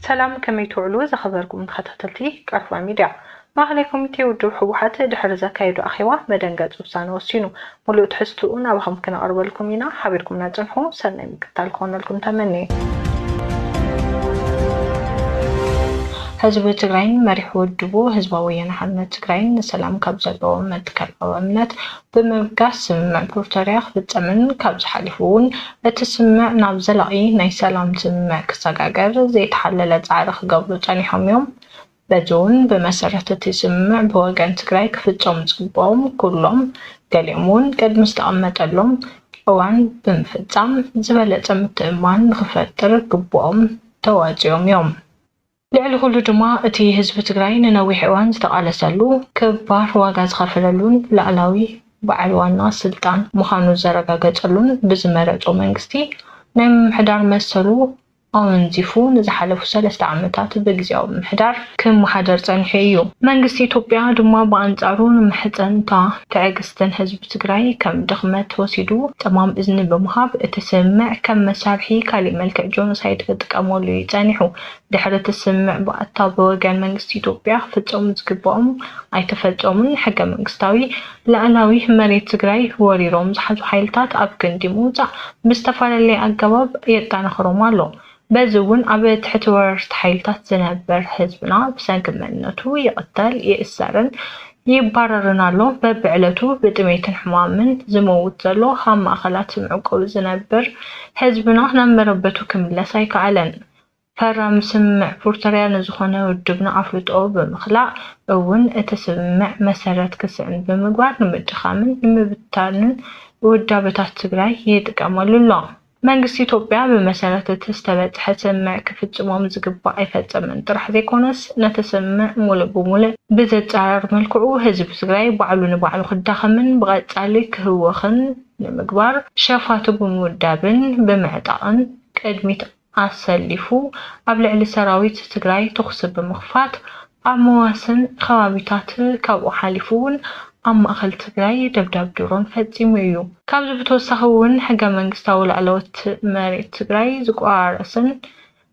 ሰላም ከመይ ትውዕሉ ዝኸበርኩም ተኸታተልቲ ቀርፋ ሚድያ። ማእኸላይ ኮሚቴ ውድብ ህወሓት ድሕሪ ዘካየዶ ኣኼባ መደንገፂ ውሳነ ወሲኑ። ሙሉእ ትሕዝትኡ ናባኹም ክነቕርበልኩም ኢና ሓቢርኩምና ፅንሑ ሰናይ ምሽ። ምቅታል ክኾነልኩም ተመንየ። ህዝቢ ትግራይን መሪሕ ውድቡ ህዝባዊ ወያነ ሓርነት ትግራይን ንሰላም ካብ ዘለዎም መትከላዊ እምነት ብምብጋስ ስምምዕ ፕሪቶርያ ክፍፀምን ካብዚ ሓሊፉ እውን እቲ ስምምዕ ናብ ዘላቒ ናይ ሰላም ስምምዕ ክሰጋገር ዘይተሓለለ ፃዕሪ ክገብሩ ፀኒሖም እዮም። በዚ እውን ብመሰረት እቲ ስምምዕ ብወገን ትግራይ ክፍፀሙ ዝግበኦም ኩሎም ገሊኦም እውን ቅድሚ ዝተቐመጠሎም እዋን ብምፍፃም ዝበለፀ ምትእምማን ንክፈጥር ግቡኦም ተዋፂኦም እዮም። ልዕሊ ኩሉ ድማ እቲ ህዝቢ ትግራይ ንነዊሕ እዋን ዝተቓለሰሉ፣ ክባር ዋጋ ዝኸፈለሉን ላእላዊ በዓል ዋና ስልጣን ምዃኑ ዘረጋገፀሉን ብዝመረፆ መንግስቲ ናይ ምምሕዳር መሰሉ ኣወንዚፉ ንዝሓለፉ ሰለስተ ዓመታት ብግዝያዊ ምምሕዳር ክመሓደር ጸኒሑ እዩ። መንግስቲ ኢትዮጵያ ድማ ብኣንጻሩ ንመሕጽንታ ትዕግስትን ህዝቢ ትግራይ ከም ድኽመት ወሲዱ ጸማም እዝኒ ብምሃብ እቲ ስምምዕ ከም መሳርሒ ካሊእ መልክዕ ጆኖሳይድ ክጥቀመሉ እዩ ጸኒሑ። ድሕሪ እቲ ስምምዕ ባእታ ብወገን መንግስቲ ኢትዮጵያ ክፍጸሙ ዝግበኦም ኣይተፈጸሙን፣ ሕገ መንግስታዊ፣ ልኣላዊ መሬት ትግራይ ወሪሮም ዝሓዙ ሓይልታት ኣብ ክንዲ ምውፃእ ብዝተፈላለየ ኣገባብ የጠናኽሮም ኣሎ። በዚ እውን ኣብ ትሕቲ ወረርቲ ሓይልታት ዝነበር ህዝብና ብሰንኪ መንነቱ ይቕተል፣ ይእሰርን ይባረርን ኣሎ። በብዕለቱ ብጥሜትን ሕማምን ዝመውት ዘሎ ኣብ ማእኸላት መዕቆቢ ዝነብር ህዝብና ናብ መረበቱ ክምለስ ኣይከኣለን። ፈራሚ ስምምዕ ፕርቶርያ ንዝኾነ ውድብና ኣፍልጦኡ ብምኽላእ እውን እቲ ስምምዕ መሰረት ክስእን ብምግባር ንምድኻምን ንምብትታንን ውዳበታት ትግራይ ይጥቀመሉ ኣሎ። መንግስቲ ኢትዮጵያ ብመሰረት እቲ ዝተበፅሐ ስምምዕ ክፍፅሞም ዝግባእ ኣይፈፀመን ጥራሕ ዘይኮነስ ነቲ ስምምዕ ሙሉእ ብሙሉእ ብዘፃረር መልክዑ ህዝቢ ትግራይ ባዕሉ ንባዕሉ ክዳኸምን ብቐፃሊ ክህወኽን ንምግባር ሸፋቱ ብምውዳብን ብምዕጣቕን ቅድሚት ኣሰሊፉ ኣብ ልዕሊ ሰራዊት ትግራይ ተኹሲ ብምኽፋት ኣብ መዋስን ኸባቢታት ካብኡ ሓሊፉ እውን ኣብ ማእኸል ትግራይ ደብዳብ ድሮን ፈፂሙ እዩ። ካብዚ ብተወሳኺ እውን ሕገ መንግስታዊ ላዕለዎት መሬት ትግራይ ዝቆራረስን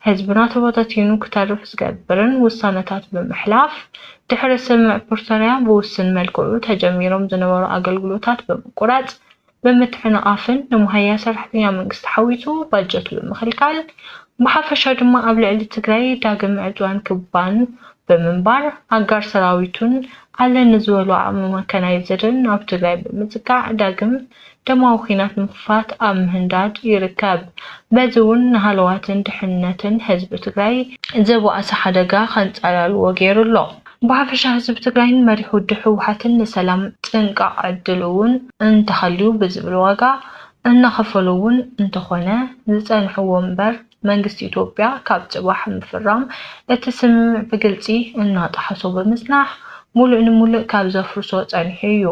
ህዝብና ተበታቲኑ ክተርፍ ዝገብርን ውሳነታት ብምሕላፍ ድሕሪ ስምምዕ ፕርቶርያ ብውስን መልክዑ ተጀሚሮም ዝነበሩ ኣገልግሎታት ብምቁራፅ ብምትዕንቓፍን ንመሃያ ሰራሕተኛ መንግስቲ ሓዊሱ ባጀቱ ብምኽልካል ብሓፈሻ ድማ ኣብ ልዕሊ ትግራይ ዳግም ዕድዋን ክባን ብምንባር ኣጋር ሰራዊቱን ኣለ ንዝበሎ ዓቕሚ መካናይዝድን ኣብ ትግራይ ብምፅጋዕ ዳግም ደማዊ ኹናት ንምኽፋት ኣብ ምህንዳድ ይርከብ። በዚ ውን ንሃለዋትን ድሕንነትን ህዝቢ ትግራይ ዝበኣሰ ሓደጋ ከንፀላልዎ ገይሩ ኣሎ። ብሓፈሻ ህዝቢ ትግራይን መሪሕ ውድብ ህወሓትን ንሰላም ጥንቃቕ ዕድሉ እውን እንተሃልዩ ብዝብል ዋጋ እናኸፈሉ እውን እንተኾነ ዝፀንሕዎ እምበር መንግስቲ ኢትዮጵያ ካብ ፅባሕ ምፍራም እቲ ስምምዕ ብግልፂ እናጠሓሶ ብምፅናሕ ሙሉእ ንሙሉእ ካብ ዘፍርሶ ፀኒሑ እዩ።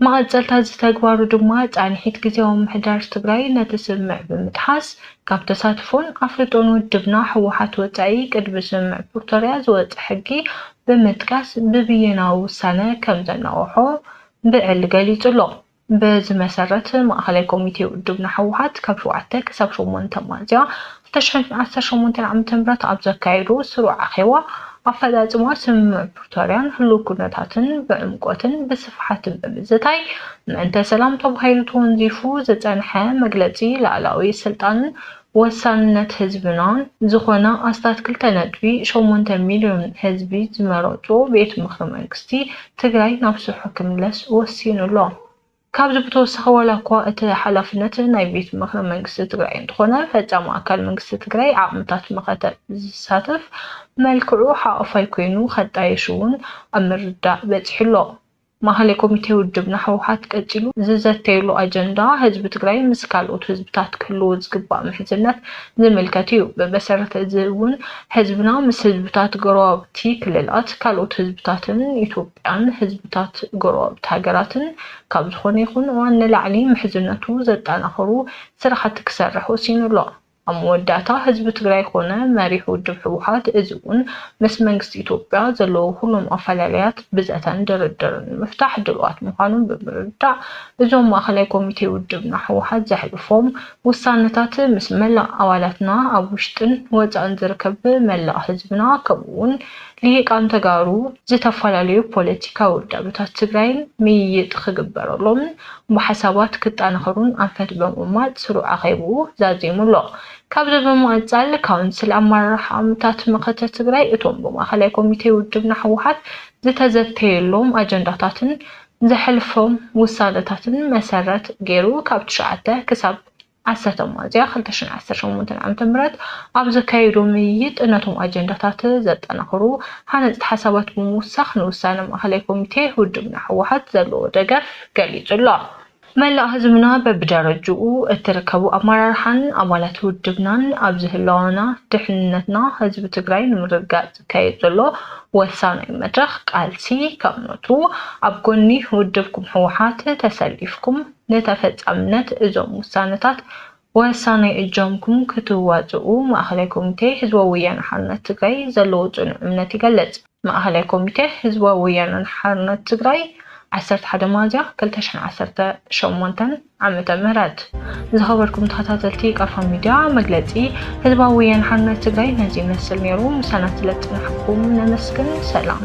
መቐፀልታ እዚ ተግባሩ ድማ ፃንሒት ግዚያዊ ምምሕዳር ትግራይ ነቲ ስምምዕ ብምጥሓስ ካብ ተሳትፎን ኣፍልጦን ውድብና ህወሓት ወፃኢ ቅድሚ ስምምዕ ፕርቶርያ ዝወፀ ሕጊ ብምጥቃስ ብብይናዊ ውሳነ ከምዘናወሖ ብዕሊ ገሊፁ ኣሎ። በዚ መሰረት ማእኸላይ ኮሚቴ ውድብና ህወሓት ካብ ሸውዓተ ክሳብ ሸሞንተ ሚያዝያ ተሸፊ ዓሰርተ ሸሞንተ ዓመተ ምህረት ኣብ ዘካየዶ ስሩዕ ኣኼባ፣ ኣፈጻጽማ ስምምዕ ፕሪቶርያን ህሉው ኩነታትን ብዕምቆትን ብስፍሓትን ብምዝታይ፣ ምእንተ ሰላም ተባሂሉ ተወንዚፉ ዝጸንሐ መግለጺ ላእላዊ ስልጣንን ወሳንነት ህዝብናን ዝኾነ ኣስታት ክልተ ነጥቢ ሸሞንተ ሚልዮን ህዝቢ ዝመረጾ ቤት ምኽሪ መንግስቲ ትግራይ ናብ ስርሑ ክምለስ ወሲኑ ኣሎ። ካብዚ ብተወሳኺ ዋላኳ እቲ ሓላፍነት ናይ ቤት ምኽሪ መንግስቲ ትግራይ እንተኾነ ፈፃሚ ኣካል መንግስቲ ትግራይ ዓቕምታት መኸተ ብዝሳተፍ መልክዑ ሓቛፋይ ኮይኑ ከጣይሽ እውን ኣብ ምርዳእ በፂሑ ኣሎ። ማእኸላይ ኮሚቴ ውድብና ህወሓት ቀፂሉ ዝዘተየሉ ኣጀንዳ ህዝቢ ትግራይ ምስ ካልኦት ህዝብታት ክህልዎ ዝግባእ ምሕዝነት ዝምልከት እዩ። ብመሰረት እዚ እውን ህዝብና ምስ ህዝብታት ጎረባብቲ ክልላት፣ ካልኦት ህዝብታትን ኢትዮ። ን ህዝብታት ጎረባብቲ ሃገራትን ካብ ዝኾነ ይኹን እዋን ንላዕሊ ምሕዝነቱ ዘጠናኽሩ ስራሕቲ ክሰርሕ ወሲኑ ኣሎ። ኣብ መወዳእታ ህዝቢ ትግራይ ኮነ መሪሕ ውድብ ህወሓት እዚ እውን ምስ መንግስቲ ኢትዮጵያ ዘለዎ ኩሎም ኣፈላላያት ብዘተን ድርድርን ንምፍታሕ ድልዋት ምዃኖም ብምርዳእ እዞም ማእኸላይ ኮሚቴ ውድብና ህወሓት ዘሕልፎም ውሳነታት ምስ መላእ ኣባላትና ኣብ ውሽጥን ወፃእን ዝርከብ መላእ ህዝብና ከምኡ እውን ሊሂቃን ተጋሩ ዝተፈላለዩ ፖለቲካዊ ውዳበታት ትግራይን ምይይጥ ክግበረሎምን ብሓሳባት ክጣናኸሩን ኣንፈት ብምቕማጥ ስሩዕ ኣኼብኡ ዛዚሙ ኣሎ። ካብዚ ብምቕፃል ካውንስል ኣመራርሓ ኣምታት መኸተ ትግራይ እቶም ብማእኸላይ ኮሚቴ ውድብና ህወሓት ዝተዘተየሎም ኣጀንዳታትን ዘሕልፎም ውሳነታትን መሰረት ገይሩ ካብ ትሽዓተ ክሳብ ኣሰተ ሚያዝያ ክልተ ሽሕን ዓሰርተ ሸሞንተን ዓመተ ምህረት ኣብ ዘካየዶ ምይይጥ፣ ነቶም ኣጀንዳታት ዘጠናኽሩ ሃነጽቲ ሓሳባት ብምውሳኽ ንውሳነ ማእከላይ ኮሚቴ ውድብና ህወሓት ዘለዎ ደገፍ ገሊጹ ኣሎ። መላእ ህዝብና በብደረጅኡ እትርከቡ ኣመራርሓን ኣባላት ውድብናን ኣብዚ ህላወና ድሕንነትና ህዝቢ ትግራይ ንምርግጋጽ ዝካየድ ዘሎ ወሳናይ መድረኽ ቃልሲ ከምነቱ ኣብ ጎኒ ውድብኩም ህወሓት ተሰሊፍኩም ንተፈጻምነት እዞም ውሳነታት ወሳናይ እጃምኩም ክትዋፅኡ ማእኸላይ ኮሚቴ ህዝባዊ ወያነ ሓርነት ትግራይ ዘለዎ ፅኑዕ እምነት ይገልፅ። ማእኸላይ ኮሚቴ ህዝባዊ ወያነ ሓርነት ትግራይ ዓሰርተ ሓደ ሚያዝያ ክልተ ሽሕን ዓሰርተ ሸሞንተን ዓመተ ምህረት። ዝኸበርኩም ተኸታተልቲ ቃልፋ ሚድያ መግለፂ ህዝባዊ ወያነ ሓርነት ትግራይ ነዚ ይመስል ነይሩ። ምሳና ስለዝፀናሕኩም ነመስግን። ሰላም።